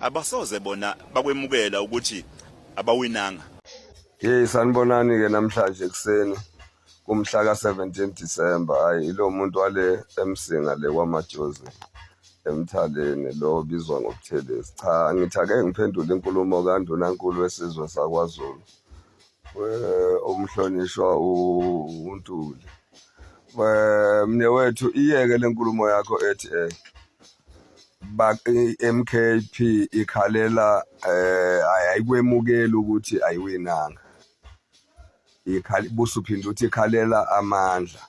abasoze bona bakwemukela ukuthi abawinanga yeyi sanibonani-ke namhlanje ekuseni kumhla ka-17 disemba hhayi ilo muntu wale emsinga le kwamajozi emthaleni lo obizwa ngobuthelezi cha ngithi ake ngiphendule inkulumo kandunankulu wesizwe sakwazulu umhlonishwa uNtuli mne wethu iyeke lenkulumo yakho ethi eh MKP ikhalela eh ayikwemukeli ukuthi ayiwinanga ikhali busu phinde uthi ikhalela amandla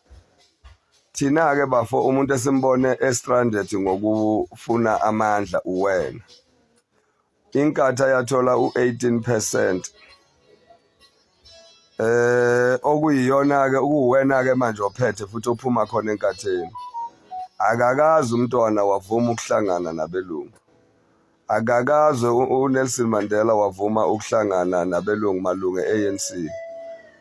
thina ke bafo umuntu esimbone estranded ngokufuna amandla uwena Inkatha yathola u-18 percent eh okuyiyona-ke ukuwena-ke manje ophethe futhi ophuma khona enkatheni akakazi umntwana wavuma ukuhlangana nabelungu akakaze uNelson Mandela wavuma ukuhlangana nabelungu malunga e-ANC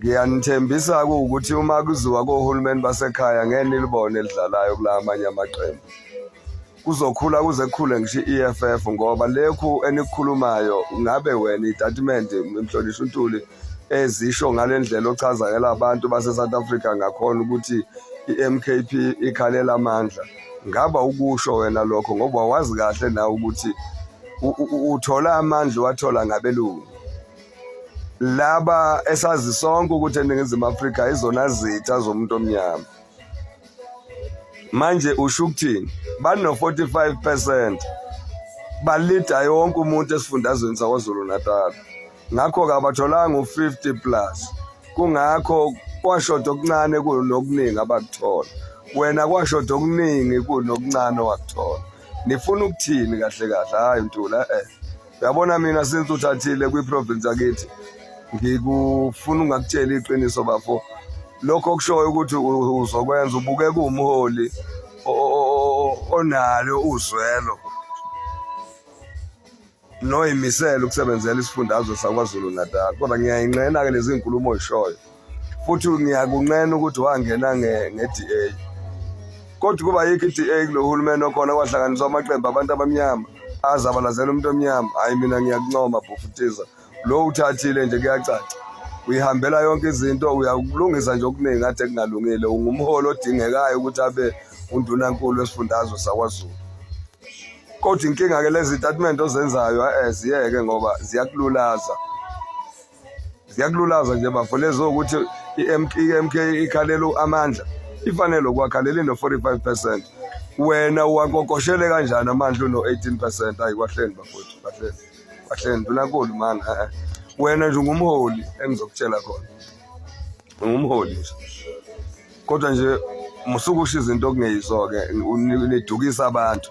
Ngiyanithembisa ukuthi uma kuziwa kohulumeni basekhaya ngeke nilibone elidlalayo kula amanye amaqembu. Kuzokhula kuze kukhule ngisho i-EFF ngoba lekhu enikukhulumayo ngabe wena itatimende Mhlonishwa uNtuli ezisho ngale ndlela ochazakela abantu base-South Africa ngakhona ukuthi i-MKP ikhalela amandla. Ngaba ukusho wena lokho ngoba wazi kahle nawe ukuthi uthola amandla wathola ngabelungu. laba esazi sonke ukuthi eningizimu afrika izona zitha zomuntu omnyama manje usho ukuthini bano-45 percent balida yonke umuntu esifundazweni sakwazulu natal ngakho-ke abatholanga u-50 plus kungakho kwashoda okuncane kunokuningi abakuthola wena kwashoda okuningi kunokuncane wakuthola nifuna ukuthini kahle kahle hhayi ntula eh Yabona mina since uthathile kwiprovince akithi ngikufuna ungakutshela iqiniso bafo lokho okushoyo ukuthi uzokwenza ubuke kuwumholi onalo uzwelo noyimisela ukusebenzela isifundazwe sakwazulu natal kodwa ngiyayinqena-ke lezi nkulumo oyishoyo futhi ngiyakunqena ukuthi wangena nge-DA kodwa kuba yikho i-DA kulo hulumeni okhona kwahlanganiswa amaqembu abantu abamnyama azabalazela umuntu omnyama hhayi mina ngiyakuncoma bhufutiza lo uthathile nje kuyacaca uyihambela yonke izinto uyakulungisa nje okuningi kade kungalungile ungumholi odingekayo ukuthi abe undunankulu wesifundazwe sakwazulu kodwa inkinga-ke lezi tatimende ozenzayo eh, ziyeke ngoba ziyakululaza ziyakululaza nje bafo lezo ukuthi i-MK ikhalela amandla ifanele ukwakhalela ino-45 percent wena uwankokoshele kanjani amandla uno-18 percent ayi kwahleni bafowethu kwahleni kwahleni ndunakulu mani eh, eh. wena nje ungumholi engizokutshela khona ungumholi nje kodwa nje musukusho izinto okungeyizo-ke nidukisa abantu